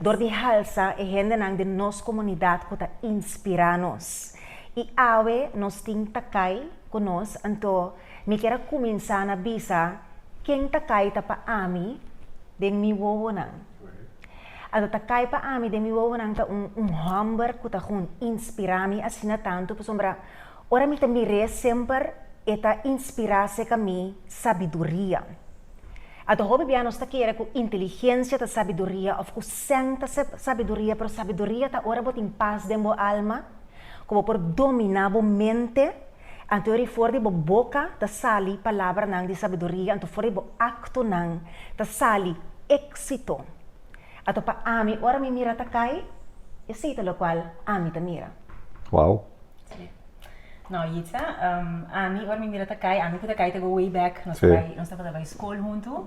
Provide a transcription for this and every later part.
dor di halsa e hendenan den nos komunidat ku ta inspirá nos. I awe nos tin Takai ku nos, anto mi kier a kuminsá na bisa ken Takai ta pa ami den mi wowonan. Anto Takai pa ami den mi wowonan ta un un hòmber ku ta kon inspirá mi asina tantu pasobra ora mi ta mir'é semper e ta inspirá seka mi sabiduria. A Tohó bibianos ta kere ku inteligensia ta sabiduria òf ku sèn ta sabiduria, pero sabiduria ta ora bo tin pas den bo alma, ku bo por dominá bo mente. Anto ori for di bo boka ta sali palabranan di sabiduria, anto for di bo aktonan ta sali éksito. Ato pa ami, ora mi mira ta kai, esei ta lokual ami ta mira. Wou! No Yitza, ami ora mi mira ta kai, ami ku ta kai ta go way back, nos ta bai, nos tabata bai skol huntu.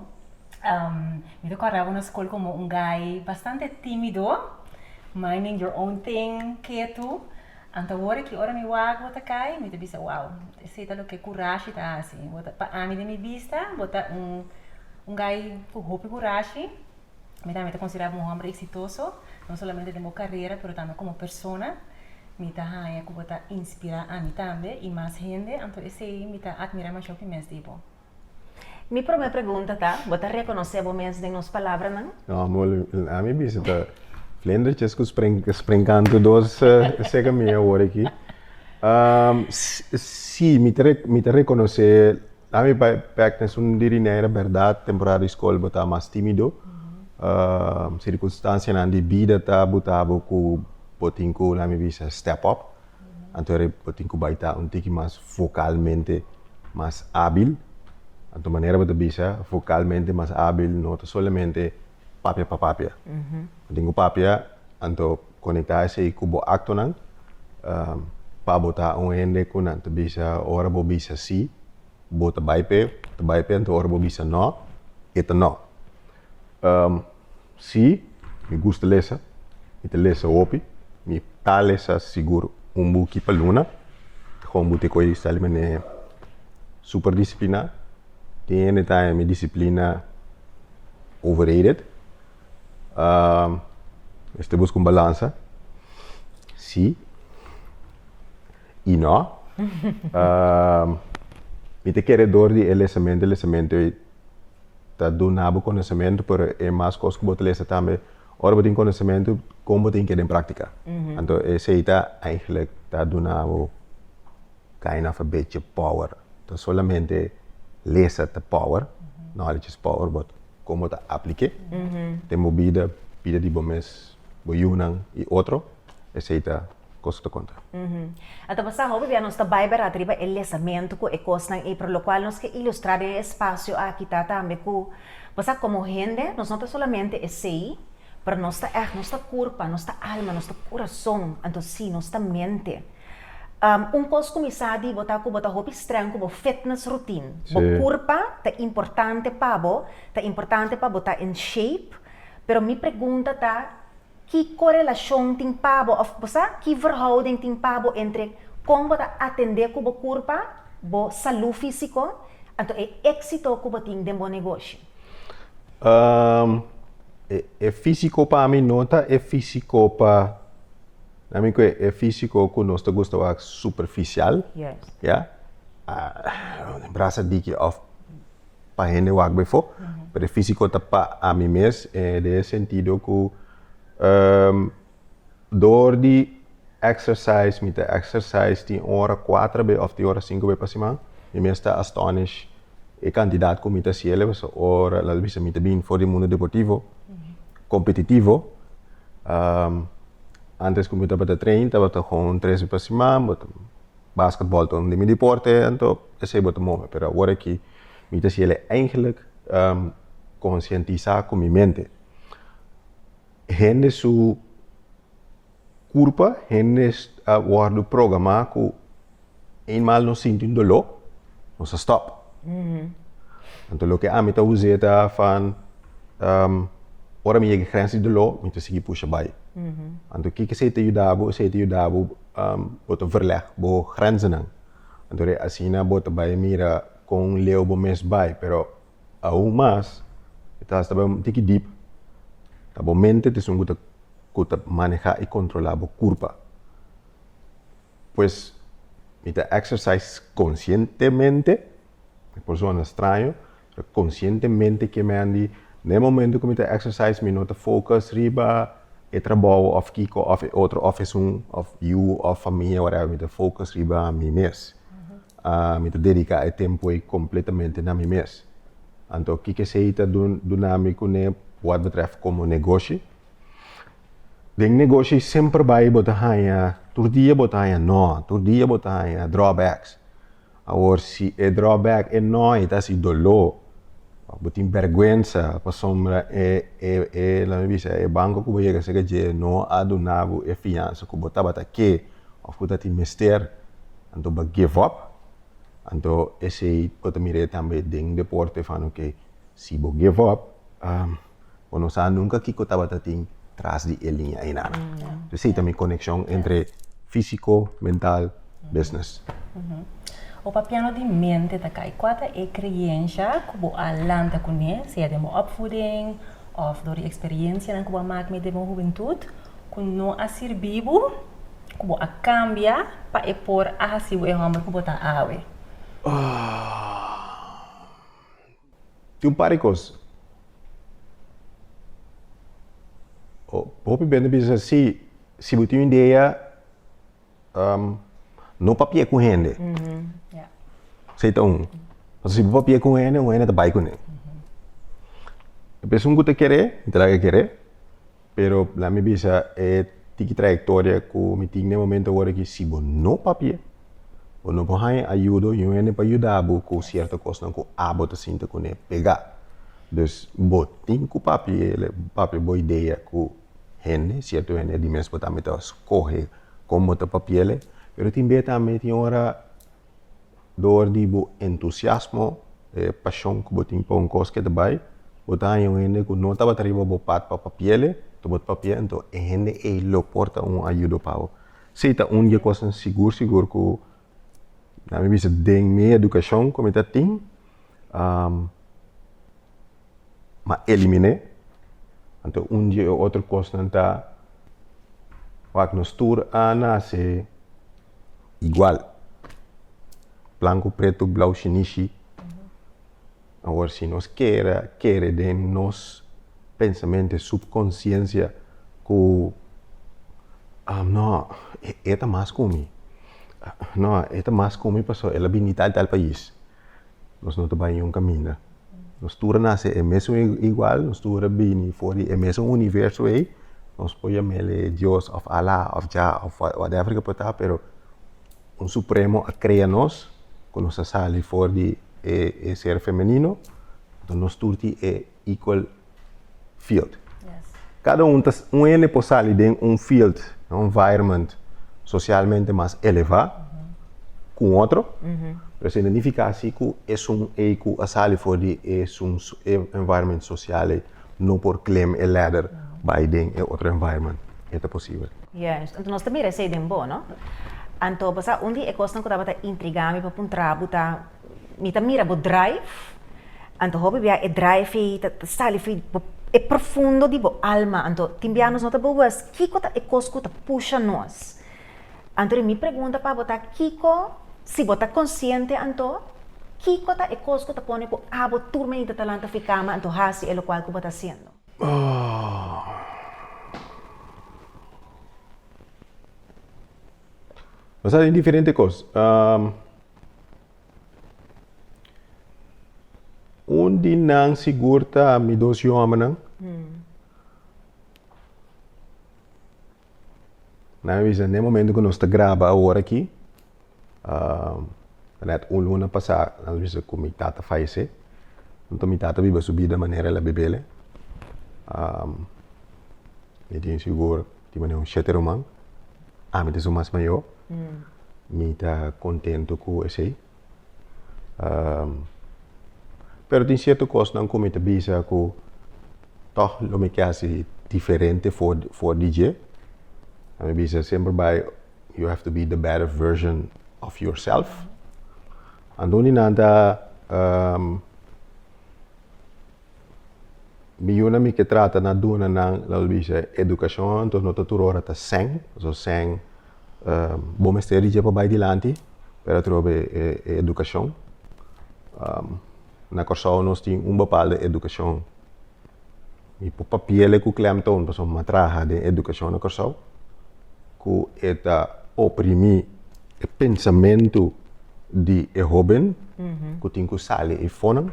mi ta kòrdaba na skol komo un gai bastante timido, minding your own thing, ketu. Anto awor aki ora mi wak bo ta kai, mi ta bisa, wow, esei ta loke kurashi ta hasi. Pa ami den mi bista, bo ta un gai ku hopi kurashi. Mi tambe ta considerá bo un homber exitoso, no solamente den bo carera, pero tambe como persona. Mi ta haña cu bo ta inspirá ami tambe y mas hende, anto esey mi ta admirá mashó cu mes di bo. Mi prome pregunta ta, bo ta reconocé bo mes den nos palabranan? No, a mi bisa ta vlindertjes cu springkantu dos seca mi awor aki. Sí, mi ta reconocé. Na mi pek na esun di rinera berdad temporada di skol bo ta mas timido. Sirkunstansianan di bida ta buta bo ku bo tin ku na mi bisa step up. Anto e bo tin ku bai ta un tiki mas vokalmente mas abil. Anto manera bo ta bisa vokalmente mas abil no ta solamente. papia pa papia. Den ku papia anto konektá esei ku bo aktonan pa bo ta un hende ku nan ta bisa ora bo bisa sí, bo ta bai p'e, bo ta bai p'e anto ora bo bisa nò, e ta nò. Sí, mi gusta lesa, mi ta lesa hopi, mi ta lesa sigur un buki pa luna, kon bo te koe sa di manera super disipliná, Tin hende ta haña mi disiplina overrated. Esei ta buska un balansa. Sí i no. Mi ta kere dor di e lesamento, e lesamento ei ta duna bo konosementu pero e mas kos ku bo ta lesa tambe, ora bo tin konosementu kon bo tin keda den práktika. Anto esei ta, ta duna bo. Kain of a bitch e power. Nton solamente lesa ta power, knowledge is power, but kon bo ta apliké den bo bida, bida di bo mes, bo yunan i otro, esei ta kos ku ta konta. A ta pasá hopi bia nos ta bai berat riba e lesamentu ku e kosnan ei, pero lokual nos ke ilustrá den e espasio aki ta tambe ku pasá komo hende nos no ta solamente esei, pero nos ta ègt, nos ta kurpa, nos ta alma, nos ta kurason, anto sí, nos ta mente. Un kos ku mi sa di bo ta ku bo ta hopi strèng ku bo fitness routine. Bo kurpa ta importante pa bo, ta importante pa bo ta in shape, pero mi pregunta ta, ki korelashon tin pa bo òf bo sa ki verhouding tin pa bo entre kon bo ta atendé ku bo kurpa, bo salú físiko, anto e éksito ku bo tin den bo negoshi? E físiko pa mi no ta e físiko pa. Na mi kue e físiko ku nos ta gusta wak superfisial, ya. Un brasa diki òf pa hende wak befo. Pero e físiko ta pa ami mes den e sentido ku dor di exercise, mi ta exercise tin ora kuater be òf tin ora sinku be pa siman. Mi mes ta astonish e kantidat ku mi ta hasiel. Pasobra ora, lal bisa, mi ta bini for di mundu deportivo, kompetitivo. Antes ku mi tabata train tabata kon un tres bi pa siman bo ta basket ball ta un di mi deporte anto esei bo ta move pero awor aki mi ta siel e eigenlik konsientisá ku mi mente hende su kurpa hende a wòrdu programá ku. Eenmaal nos sinti un doló, nos a stop. Anto loke ami ta usé ta van, ehm, ora mi yega e grens di doló, mi ta sigui pusha bai. Anto kiko esei ta yuda bo? Esei ta yuda bo, ehm, bo ta verleg bo grenzennan. Anto ora asina bo ta bai mira kon leu bo mes bai. Pero aun mas, e ta hasta bai un tiki diep, ta bo mente ta esun ku ta, ku ta maneha i kontrola bo kurpa. Pues mi ta exercise conscientemente, mi por sona straño, pero conscientemente ke men di na e momento ku mi ta exercise mi no ta focus riba e trabou of kiko of e otro of esun of yu of famia whatever mi ta focus riba mi mes. Mi ta dedica e tempo ei completamente na mi mes. Anto kiko esei ta duna mi kune wad betref como negoshi. Den negoshi y semper bai y bo ta haña, tur dia bo ta haña no, tur dia bo ta haña drawbacks. Awor si e drawback, e no ei ta hasi doló, òf bo tin bèrgwensa pasobra e e e la mi bisa e banko ku bo yega sega dje no a duna bo e fiansa ku bo tabata ke òf ku ta tin mester, anto bo a give up. Anto esei bo ta mira tambe den deporte, fan oke, si bo give up. Bo no sa nunka kiko tabata tin tras di e liña einan. Entonces ei ta mi konekshon entre físiko, mental, business. Bo papiando di mente ta kai, kua ta e kreyensha ku bo a lanta kuné, sea den bo opvoeding òf dor di eksperiensianan ku bo a mak mee den bo hubentut, ku no a sirbi bo, ku bo a kambia pa e por a hasi bo e hòmber ku bo ta awe? Tin un par di cos. Hopi bende bisa si, si bo tin un idea no papia cu hende. Esey ta un. Pasobra si bo papia cu un hende, un hende ta bay cun'e. P'esun cu ta kere, ta laga kere. Pero la mi bisa e tiki trayectoria ku mi tin den momento awor aki, si bo no papia, bo no por haña ayudo i un hende pa yuda bo ku sierto kosnan ku abo ta sinti ku n'e pega. Dus bo tin ku papia, el papia bo idea ku hende, sierto hende di mes bo tambe ta skohe kon bo ta papia'e. Pero tin bia tambe tin ora Dor di bo entusiasmo, e pashon ku bo tin pa un kos ke ta bai, bo ta haña un hende ku no tabata riba bo pat pa papiele, ta bo ta papia, anto e hende ei lo por ta un ayudo pa bo. Esei ta un di e kosnan sigur sigur ku na mi bisa den mi edukashon ku mi ta tin, mi a eliminé. Anto un di e otro kosnan ta wak nos tur a nase. igual blanco preto blau shinishi awor si nos kere a kere den nos pensamente subconsciencia ku no e ta mas ku mi no e ta mas ku mi pasobra el a bini tal tal pais nos no ta bai un kaminda. Nos tur a nase e mesun igual, nos tur a bini for di e mesun universo ei, nos por yamele Dios of Allah of Jah of whatever ke por ta, pero un supremo a krea nos, ku nos a sali for di e ser femenino, nos tur tin e equal field. Cada un, un hende por sali den un field, un environment socialmente mas eleva con otro, pero se identifica así cu esun ei cu a sali for di esun environment social ei no por climb e ladder bai den e otro environment. E ta posibel. Juist. Anto nos ta mira esei den bo, no? Anto, pasobra un di e cosnan cu tabata intriga mi pa puntra bo ta. Mi ta mira bo drive, anto hopi bia e drive ei ta sali fi bo e profundo di bo alma. Anto tin bia nos no ta bogus kiko ta e kos ku ta pusha nos. Anto ri mi pregunta pa bo ta kiko, si bo ta konsiente anto, kiko ta e kos ku ta pone ku abo tur menita ta lanta fi kama anto hasi e lokual ku bo ta hasiendo? Nos ta hasi diferente kos. Un di nan sigur ta mi dos yomennan. Nan a bisa den momento ku nos ta graba awor aki, um, nèt un luna pasá nan a bisa ku mi tata falesé. Anto mi tata a biba su bida manera el a bib'e. Um, mi tin sigur. di manera un shete ruman, ami ta su mas mayor, mi ta contento cu esey. pero tin cierto cosnan cu mi ta bisa cu toch lo mi ke hasi diferente for, for di dje. Ami bisa semper bay you have to be the better version of yourself. Anto un di nan ta Mi yuna mi ke trata na duna nan, la we bisa, edukashon, anto no ta tur ora ta sèn, pasobra sèn, bo mester di dje pa bai dilanti, pero atrobe e edukashon. Na Kòrsou nos tin un bapalde edukashon, mi por papi'ele ku klemtoon, pasobra mi a traha den edukashon na Kòrsou, ku e ta oprimí e pensamentu di e hóben ku tin ku sali ei fonan.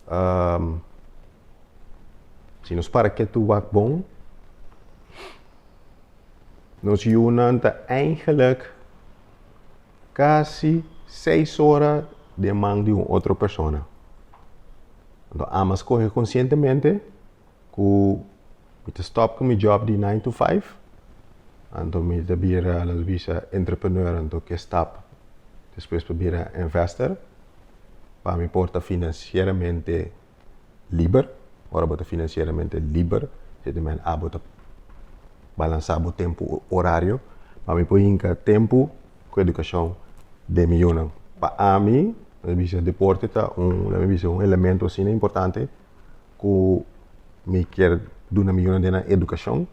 Um, si nos para kietu e wak bon, nos yunan ta eigenlijk casi seis ora de man di un otro persona. Anto ambas coge conscientemente ku mi ta stòp ku mi jòb di nine to five, anto mi ta bira lo ta bisa entrepreneur, anto ke stap despues pa bira investor, pa mi por ta finansieramente liber, ora bo ta finansieramente liber e ta men abo ta balansa bo tempu orario, pa mi por hinka tempu ku edukashon den mi yunan, pa ami lo ta bisa deporte ta un, lo ta bisa un elemento asina importante ku mi kier duna mi yunan den nan edukashon,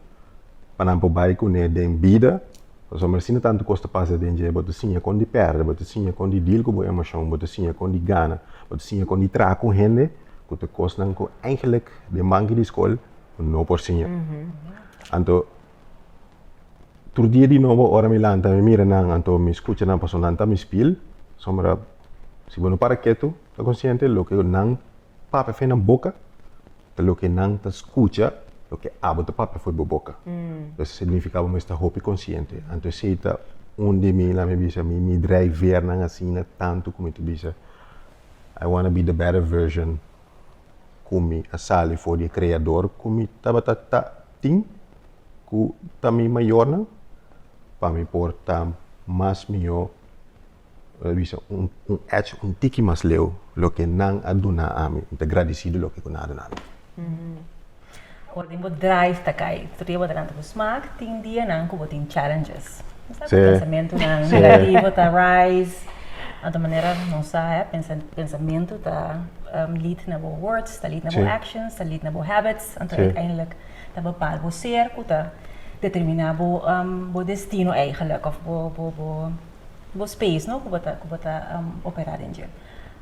pa nan por bai kuné den bida, pasobra mi a sinta tantu kos ta pasa den dje, bo ta siña kon di pèrdè, bo ta siña kon di dil ku bo emoshon, bo ta siña kon di gana, bo ta siña kon di traha ku hende, ku ta kosnan ku eingelik den banki di skol bo no por siña. Anto tur dia di nobo ora mi lanta mi mira nan, anto mi skucha nan pasobra nan ta mi spil, sombra si bo no para ketu, ta konsiente loke nan Papia afe nan boca, ta loke nan ta scucha loke abo ta papia for bo boca. Entonces significa bo mester hopi consciente. Anto esey ta un di mi, laat me bisa, mi mi drijveernan asina tanto cu mi ta bisa I wanna be the better version cu mi a sali for di e creador cu mi tabata ta tin cu ta mi mayornan pa mi por ta mas mijo a bisa un un ech un tiki mas leu loke nan a duna ami mi ta gradisido loke ku nan a duna ami. Ora den bo drive ta kai tur dia bo ta lanta ku smak tin dianan ku bo tin challenges esa ku pensamentunan negativo ta rise anto manera nos sa e pensa pensamentu ta lead na bo words ta lead na bo actions ta lead na bo habits anto uiteindelijk ta bepaal bo ser ku ta determina bo bo destino eigenlik of bo bo bo bo space no ku bo ta ku bo ta opera den dje.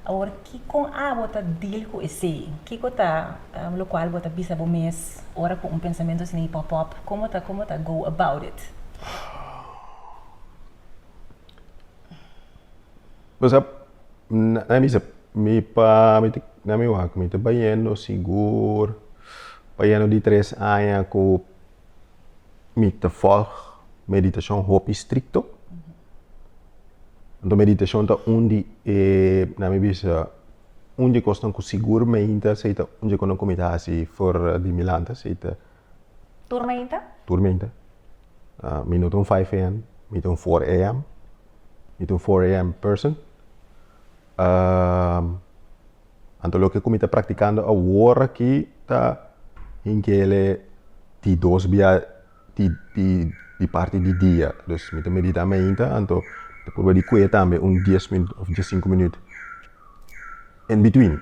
Awor kikon abo ta deal ku esei? Kiko ta lo kual bo ta bisa bo mes ora ku un pensamentu asina pop up? Komo ta komo ta go about it? Bo sa nan bisa mi pa mi ta nan mi wak mi ta bayendo sigur bayendo di tres aña ku. mi ta volg meditashon hopi strikto. Anto meditashon ta un di e, na mi bisa, un di kosnan ku sigur meinta seita un di kosnan ku mi ta hasi for di mi lanta seita Tur meinta? tur meinta. Ah, mi no ta un 5 a.m. mi ta un 4 a.m. Mi ta un 4 a.m. person. Ah, Anto loke ku mi ta praktikando awor aki ta hingele di dos bia di parti di dia. Dus mi ta meditá mi ainta, anto ta purba di kue tambe un dies minuut òf dies sinku minuut en bitwin.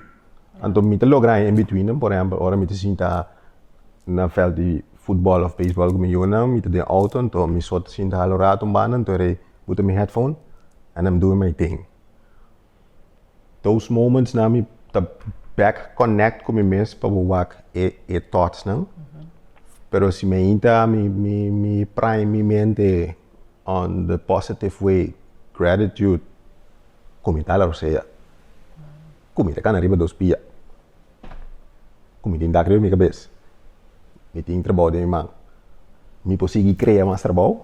Anto mi ta logra e en bitwin, por ehèmpel ora mi ta sinta na vèlt di futbòl òf beisbòl ku mi yunan, mi ta den outo anto mi so ta sinta hala un ratu, anto rei buta mi hèdfon en mi duna mi ting. Those moments nan mi ta back connect ku mi mes pa bo wak e, e thoughts nan. Pero si mi ainta mi, mi, mi prime mi mente on the positive way, gratitude, ku mi ta ala rosea. Ku mi ta kana riba dos pia. Ku mi tin dak riba mi kabes. Mi tin trabou den mi man. Mi por sigui krea mas trabou.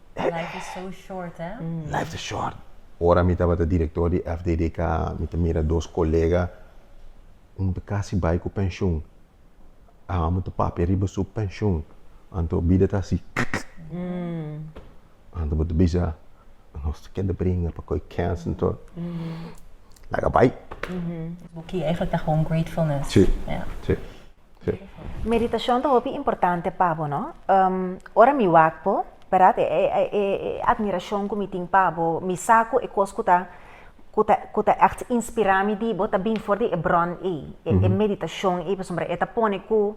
Life is so short, hè? Life ta short. Ora mi tabata director di FDDK, mi ta mira dos colega, un ta casi bay cu pensioen, amo ta papia riba su pensioen, anto bida ta haci kikk, anto bo ta bisa, nos ta keda bringa pa coy cans en tur, laga bay. Bo kier eigenlijk ta gewoon gratefulness. Si, si. Meditashon ta hopi importante pa bo, no? Ora mi wak bo, bèrdat? E admirashon ku mi tin pa bo, mi sa ku e kos ku ta ku ta ègt inspirá mi di bo ta bini for di e bròn ei, e meditashon ei, pasobra e ta pone ku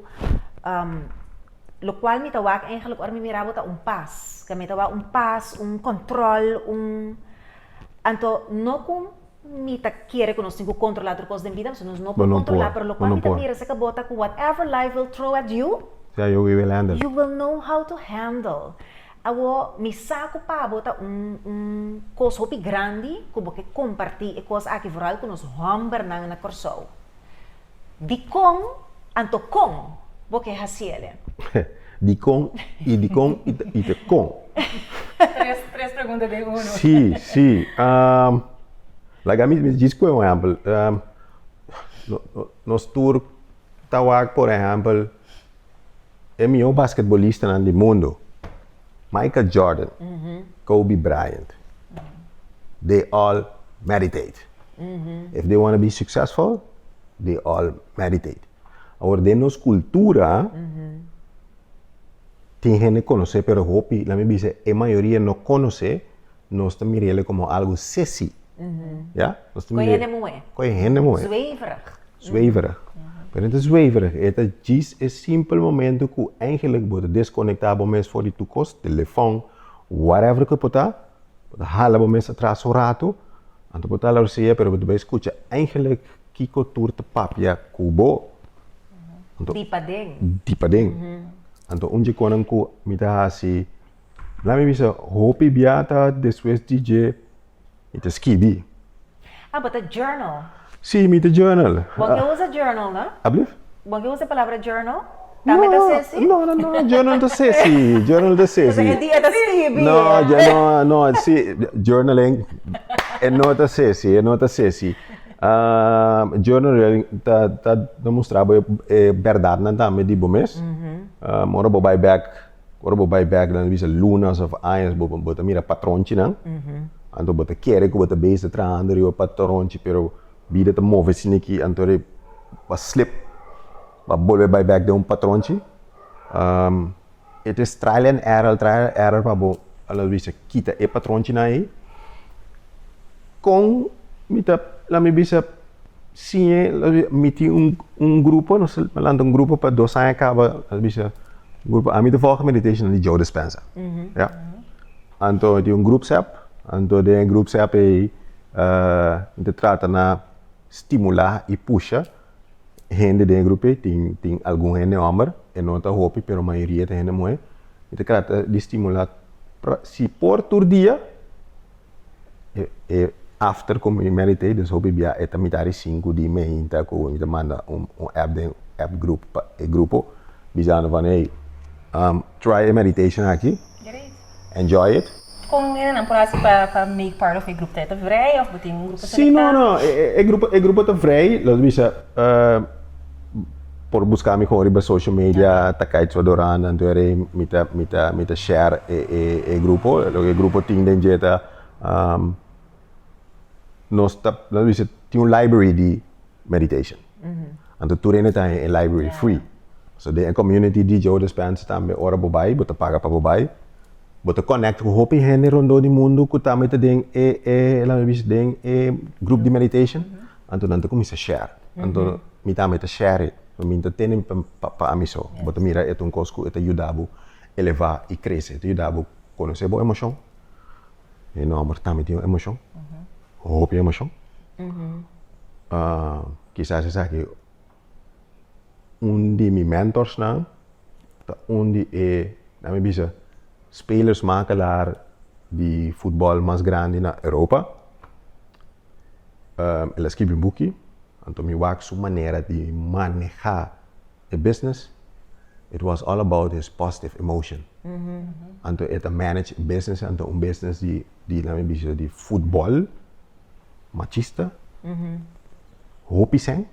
lokual mi ta wak eigenlijk ora mi mira bo ta un pas, mi ta wak un pas, un kòntròl, un anto no ku. Mi ta kere ku nos tin ku kontrolá tur kos den bida, pasobra nos no por kontrolá, pero lokual mi ta mira esaka bota ku whatever life will throw at you, you will know how to handle. Awor, mi sa ku pa bo ta un un kos hopi grandi ku bo ke kompartí e kos aki, vooral ku nos hòmbernan na Kòrsou. Dikon anto kon bo ke hasi el e? Dikon i dikon i te kon. Tres tres pregunta den uno. Sí, sí. Um, like ami mi djis koe un ehempel. Um, nos tur ta wak por ehempel E mihó basketbolistanan di mundu, Michael Jordan, Kobe Bryant, dey all meditate. If dey wanna be successful, dey all meditate. Awor den nos kultura, tin hende konos'é pero hopi, la mi bisa e mayoria no konos'é. nos ta mira ele como algo sesi. Ja? Nos ta Con mira- hende muhe. Con hende muhe. Zweverig. Zweverig. Pero no ta zweverig, e ta djis e simpel momento cu eigenlijk bo ta desconecta bo mes for di tur cos, telefon, whatever cu e por ta, bo ta hala bo mes atras un rato, anto bo ta hala recién ya, pero bo ta bay scucha eigenlijk kico tur ta papia cu bo. Di paden. Di paden. Anto un dje conan cu mi ta haci La mi bisa hopi bia ta despues di dje mi ta skibi. Ah, bo ta journal? Sí, mi ta journal. Bon ke usa journal no? Ablief? Bon ke usa e palabra journal? Tambe ta sesi? No, no, no, journal ta sesi, journal ta sesi. Entonces e di e ta skibi. No, dje no, no, sí, journal en, e no ta sesi, e no ta sesi. Ah, journal rialmente ta, ta, ta mustra bo e berdadnan tambe di bo mes. Ahh, ora bo bai bek Ora bo bai bek na bisa lunas of añas bo, bo ta mira patronchinan. Anto bo ta kere ku bo ta bes ta trahando riba patronchi, pero bida ta move sin aki anto ora e ba slip ba bolbe bai bek den un patronchi. It is trial and error, trial and error pa bo a la bisa kita e patronchinan ei. Kon mi ta, la mi bisa siñe, mi tin un, un grupo, nos ta lanta un grupo pa dos aña kaba, la bisa, grupo a mi ta volg meditation di Joe Dispenza. Ya. Anto mi tin un grup sep, anto den e grup sep ei, eh, mi ta trata na stimula i pusha hende den e grupo ei, tin, tin algun hende hòmber, e no ta hopi pero mayoria ta hende muhé, mi ta trata di stimula, si por tur dia, E e after ku mi meditei den su hopi bia eta mitad di sinku di meinta ku mi ta manda un un app den app grupo pa e grupo bisando van hey um try e meditation aki enjoy it. Kon e nenan por hasi pa pa make part of e grupo ta eta vrij of bo tin un grupo selectá? Si no no e e grupo e grupo ta vrij lo ta bisa um. Por busca mi con riba social media ta Kite Su Adorando anto era mi ta mi ta mi ta share e e e grupo loke e grupo tin den dje ta um, nos ta nos bisa tin un library di meditation anto tur hende ta e library free so den e community di Joe Dispenza tambe ora bo bai bo ta paga pa bo bai bo ta connect cu hopi hende rondó di mundu cu tambe ta den e e laga mi bisa den e grup di meditation Anto nan ta cuminsa share. Anto mi tambe ta share e. Mi ta tene pa ami so. Bo ta mira e ta un cos cu e ta yuda bo eleva y crece. E ta yuda bo conoce bo emocion. Mi nomber tambe tin un emocion. Hopi emocion. Kisas esaki un di mi mentorsnan, ta un di e, na mi bisa, spelers makelaar di futbòl mas grandi na Europa. el a skibi un buki, anto mi wak su manera di manehá e business. It was all about his positive emotion. Anto e ta manage e business, anto un business di di la mi bisa di futbol machista hopi sen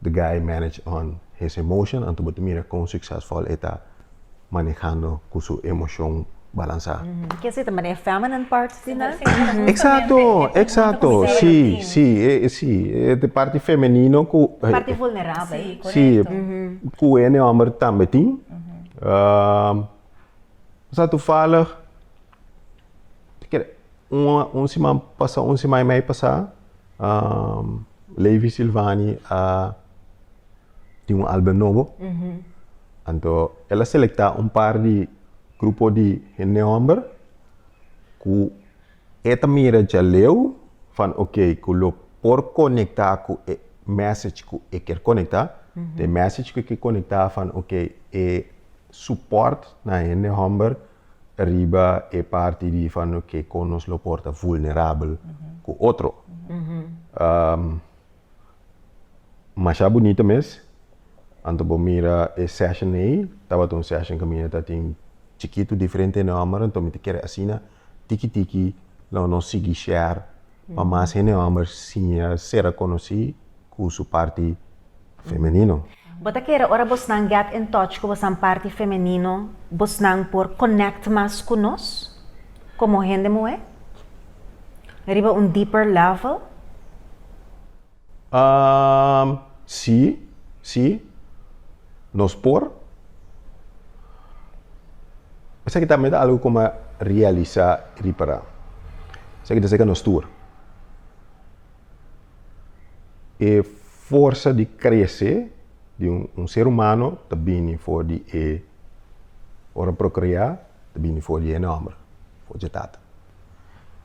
the guy manage on his emotion anto bo ta mira kon succesful e ta manejando ku su emoshon balansá Kier si ta maneha feminine parts di nan? Exacto, exacto, si, si, e, si, e te parti femenino ku Parti vulnerabel. Sí, correcto. Ku ene homber tambe tin. Sa tufalig un siman pasa un siman i mei pasa Levi Silvani a tin un album nobo anto el a selecta un par di grupo di hende homber cu e ta mira djaleu van ok cu lo por conecta cu e message cu e ker conecta cu e message cu e ker conecta van ok e Support na hende homber riba e parti di fano ke kon nos lo por ta vulnerabel ku otro. Masha bunito mes. Anto bo mira e session ei, tabata un session ke mi e ta tin chikitu diferente hende homber, anto mi ta kere asina. Tiki tiki lo nos sigui share pa mas hende homber siña ser a conoci cu su parti femenino. Bo ta kere ora bosnan get in touch cu bosnan parti femenino bosnan por connect mas cu nos como hende muhe? Riba un deeper level? Ahm, sí, sí, nos por. Esaki tambe ta algu como a realisa y ripara. Esaki ta cerca nos tur. E forsa di crece di un ser humano ta bini for di e, ora procrea, ta bini for di e homber, for di e tata.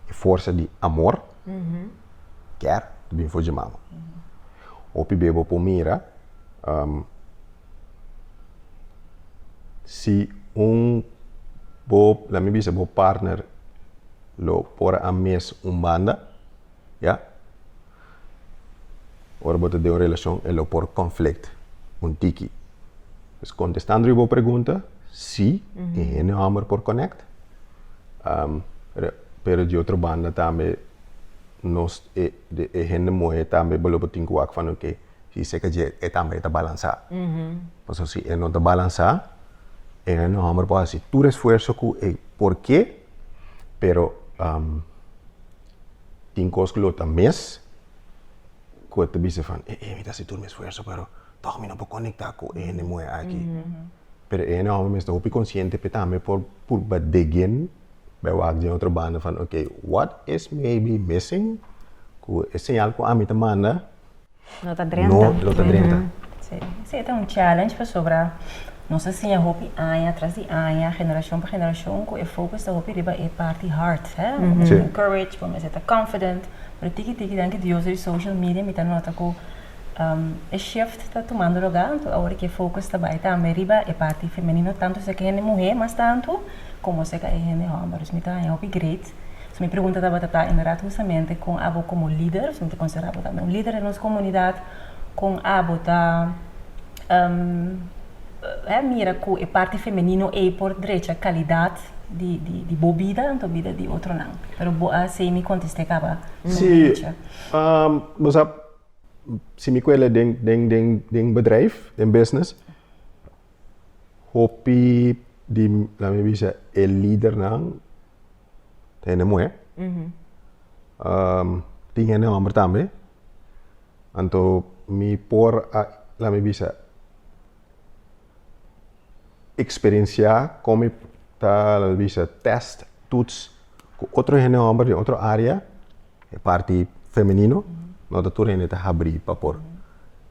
e forsa di amor, kier ta bin for dje mama. Hopi be bo por mira um, si un bo, laat mi bisa bo partner lo por a mes un banda, ya. Ora bo ta den un relacion e lo por conflict un tiki. Pues contestando riba bo pregunta, si, e hende homber por connect. Um, pero di otro banda tambe nos e, e hende muher tambe bo lo por tin cu wak van oké, si seke dje e tambe ta balansa. Pasobra si e no ta balansa, e hende homber por haci tur esfuerzo cu e porque, pero um. Tin cos cu lo ta mes, cu e ta bisa van, e e mi ta haci tur mi esfuerzo, pero toch mi no por conecta cu e hende moe aki. Pero e hende homber mes ta hopi consciente pe tambe por purba degen bay wak den otro banda van, ok, what is maybe missing cu e señal cu ami ta manda? No ta drenta. No lo ta drenta. Sí. Sí, e ta un challenge pasobra nos a siña hopi aña tras di aña, generashon pa generashon, ku e fokus ta hopi riba e parti hard. He? Bo mester ta encourage, bo mester ta confident. Pero tiki tiki, danki Dios di social media, mi ta nota ku um e shift ta tumando lugá. Anto awor e fokus ta bai tambe riba e parti femenino, tantu esaki hende muhé mas tantu, komo esaki hende hòmber. Dus mi ta haña hopi great. So mi pregunta tabata ta inderdat hustamente kon abo komo lider, si mi ta konsidera abo tambe un lider den nos komunidat, kon abo ta mira ku e parti femenino ei por drecha kalidat di bo bida anto bida di otronan? Pero bo a hasi mi kontest'é kaba den drecha. Bo sa, si mi ku'el e den bedrijf, den business, hopi di, laat mi bisa, e lidernan ta hende muhé. tin hende homber tambe. Anto mi por a, la mi bisa, experiencia con mi ta, la mi bisa, test, tuts, cu otro hende homber den otro area. e parti femenino, no ta tur hende ta habri pa por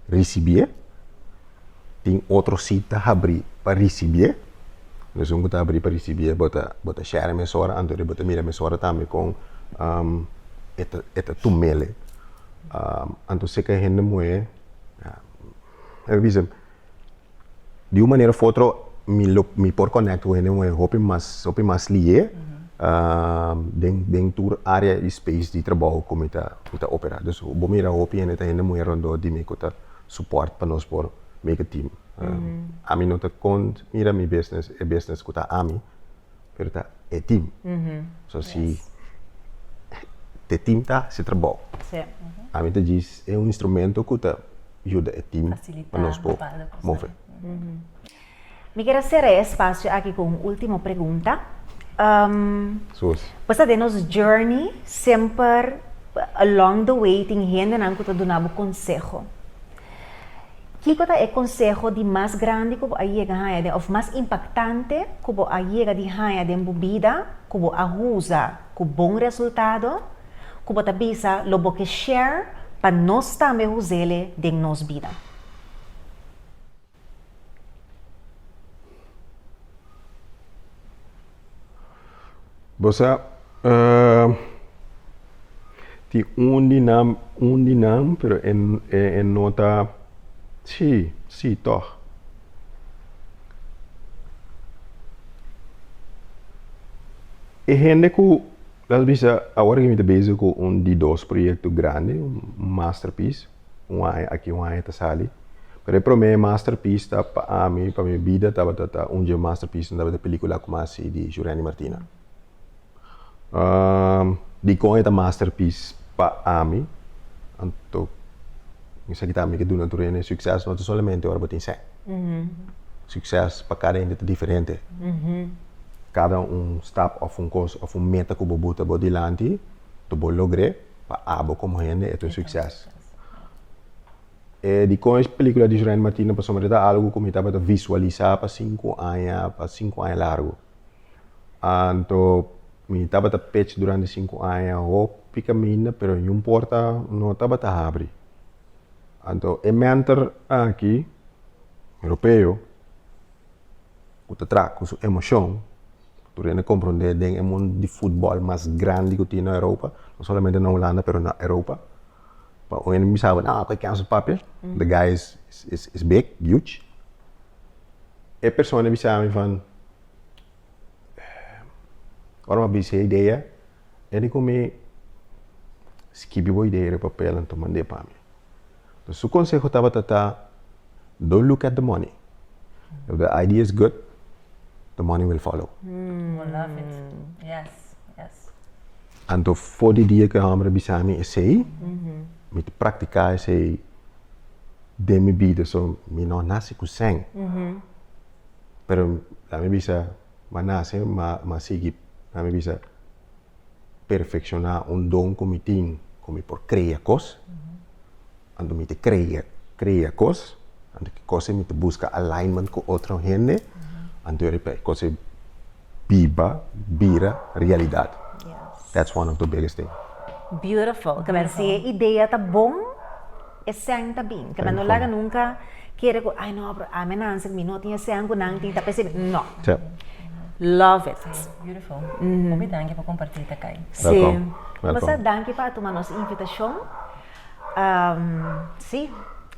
risibié. Tin otro si ta habri pa risibié. Nos un ku ta habri pa risibié bo ta bo ta share mesora anto di bo ta mira mesora tambe kon e ta e ta tum mele. Anto seke hende muhé, lami bisa di un manera of otro mi lo mi por connect cu hende moe hopi mas hopi mas lié ehm, den den tur area y space di trabou cu mi ta cu ta opera dus bo mira hopi hende ta hende moe rondor di mi cu ta support pa nos por make a team ehm, ami no ta con mira mi business e business cu ta ami pero ta e team. So si te team ta si trabao. Sí. A mi ta djis e un instrumento ku ta yuda e team pa nos por move. Mi ker a sera e espasio aki ku un ultimo pregunta. Susi. Pasa den nos journey semper along the way tin hendenan ku ta duna bo konseho. Kiko ta e konseho di mas grandi ku bo a yega haña den òf mas impaktante ku bo a yega di haña den bo bida ku bo a usa ku bon resultado ku bo ta bisa lo bo ke share pa nos tambe us'ele den nos bida? Bo sa tin un di nan un di nan pero e e e no ta si si tòg e hende ku tal bes a awor mi ta bezig ku un di dos proyekto grandi un masterpiece un aña aki, un aña ta sali. Pero e promé masterpiece ta pa ami, pa mi bida tabata ta un dje masterpiecenan tabata e película ku mas hasi di Jurendi Martina. dikon e ta masterpiece pa ami? Anto mi sa kita mi ke duna tur hende sukses no ta solamente ora bo tin sèn. Sukses pa kada hende ta diferente. Kada un stap òf un kos òf un meta ku bo buta bo dilanti, ta bo logr'é. Pa abo komo hende e ta un sukses. E dikon e pelikula di Junaid Martina pasobra e ta algu ku mi tabata visualisá pa sinku aña, pa sinku aña largu. Anto mi tabata pech durante sinku aña hopi kaminda pero niun porta no tabata habri. Anto e mentor aki, Europeo, ku ta traha ku su emoshon, tur hende komprondé den e mundu di futbòl mas grandi ku tin na Europa, no solamente na Hulanda pero na Europa, pa un hende mi bisa bo koe ken a su papia, de guy is is big, huge, e persona a bisa mi van ora mi a bisa e idea e di ku mi skibi bo idea den e papel en tuma mand'é pa mi. Pues su conseho tabata ta, don't look at the money. If the idea is good, the money will follow. Oh, love it. Yes, yes. Anto for di dia ku e hòmber a bisa mi esei, mi ta praktiká esei den mi bida. So, mi no a nase ku sèn. Pero la mi bisa, mi a nase, mi a sigui, la mi bisa. perfecciona un don cu mi tin, cu mi por crea cos, ando mi te crea, crea cos, ando ki cosa mi ta busca alignment cu otro hende, ando riba e cosa biba, bira realidad. Yes. That's one of the biggest thing. Beautiful. Merci. E idea ta bon. Esèn ta bin, kaba no laga nunka kere ku ai no, pero ami a nan si mi no tin esèn ku nan tin ta persibi, no. Love it. Beautiful. Hopi danki pa komparti ta kai. Si. Kumasa danki pa tuma nos invitashon. Si,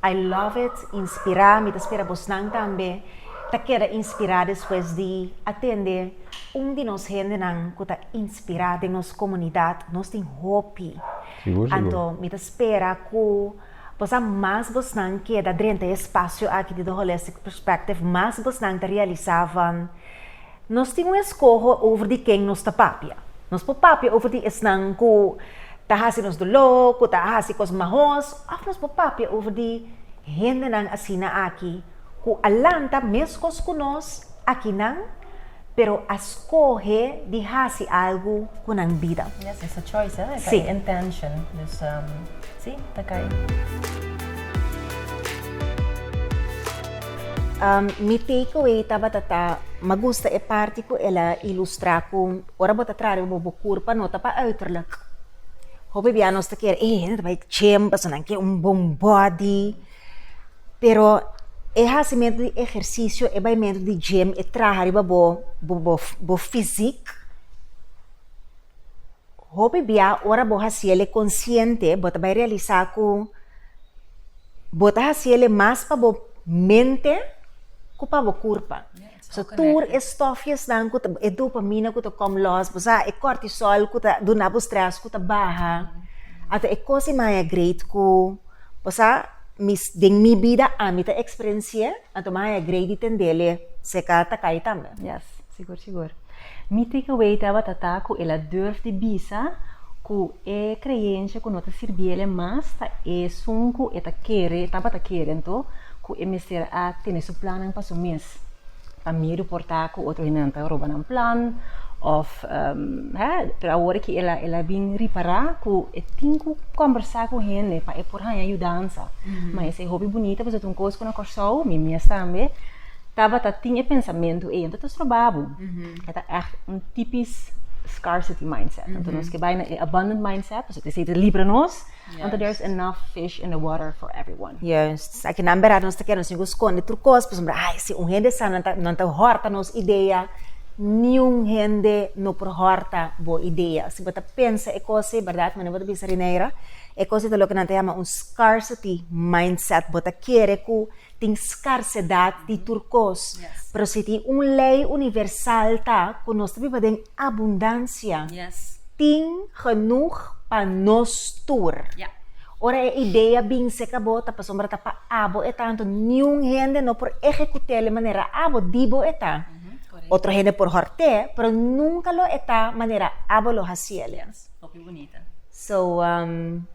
I love it, inspirá, mi ta spera bosnan tambe ta keda inspirá despues di atende un di nos hendenan ku ta inspirá den nos komunidat. Nos tin hopi. Sigur, sigur. Anto mi ta spera ku bos a mas bosnan keda drenta e spasio aki di The Holistic Perspective, mas bosnan ta realisá van nos tin un eskoho over di ken nos ta papia. Nos por papia over di esnan ku ta hasi nos doló, ku ta hasi kos mahos, òf nos por papia over di hendenan asina aki, ku a lanta meskos ku nos akinan, pero a skohe di hasi algu ku nan bida. Yes, es a choice, eh? E ta e intention. Dus, si, ta kai. Mi takeaway tabata ta, m'a gusta e parti ku el a ilustrá ku ora bo ta trare bo bo kurpa no ta pa uiterlijk. Hopi bia nos ta kere, eh, nan ta bai chemba, so nan ke un bon bòdi. Pero e hasi mento di ehersisio, e bai mento di gym, e traha riba bo bo fisik. Hopi bia ora bo hasi el e konsiente, bo ta bai realisá ku bo ta hasi el e mas pa bo mente ku pa bo kurpa. So tur e stofjesnan ku ta e dopamina ku ta kom lòs, bo sa, e kòrtisòl ku ta duna bo strès ku ta baha, a ta e kos di maya greit ku, bo sa, mi den mi bida ami ta eksperensié, anto maya greit di tendele se ka ta kai tambe. Yes, sigur sigur. Mi takeaway tabata ta ku el a durf di bisa ku. E kreensha ku no ta sirbi el e mas ta esun ku e ta kere, e tabata kere anto, ku e mester a tene su plannan pa su mes, pa miedu por ta ku otro hindenan ta roba nan plan, òf he, pero awor aki el a el a bin ripará ku e tin ku kòmbersá ku hende pa e por haña yudansa. Ma esei hopi bunita pasobra ta un kos ku na Kòrsou, mi mes tambe, tabata tin e pensamentu ei, anto ta stroba bo. E ta ègt un tipis scarcity mindset. Mm -hmm. Nos ke bai na e abundant mindset, nos te si te libra nos, yes. want there's enough fish in the water for everyone. Yes. Aki nan berat nos te kena singo skonde tur kos, pues mbra, ai, si un hende sa nan ta, nan ta horta nos idea, ni un hende no por horta bo idea. Si bo ta pensa e kose, berdat, mane bo ta bisa Rineira, e kose ta lo ke nan ta yama un scarcity mindset. Bo ta kere ku Tin skarsedat di tur kos, pero si tin un lei universal ta ku nos ta biba den abundansia, tin genoeg pa nos tur. Ora e idea bin seka bo, ta pasobra ta pa abo e tantu, niun hende no por ehekut'é manera abo di bo e ta. Otro hende por hòrt'é, pero nunka lo e ta manera abo lo hasiel. So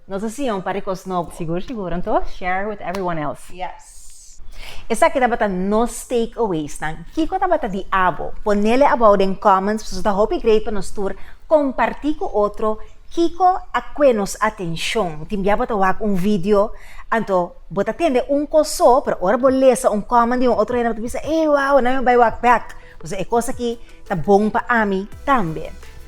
nos a siña un par di cos nobo. Sigur sigur, anto share with everyone else. Yes. Esaki tabata nos take aways nan. Kico tabata di abo? Ponele abou den comments pasobra ta hopi great pa nos tur comparti cu otro kico a cue nos atencion. Tin bia bo ta wak un video anto bo ta tende un cos so pero ora bo lesa un comment di un otro hende bo ta bisa ey wow nan mi a bay wak back pasobra e cos aki ta bon pa ami tambe.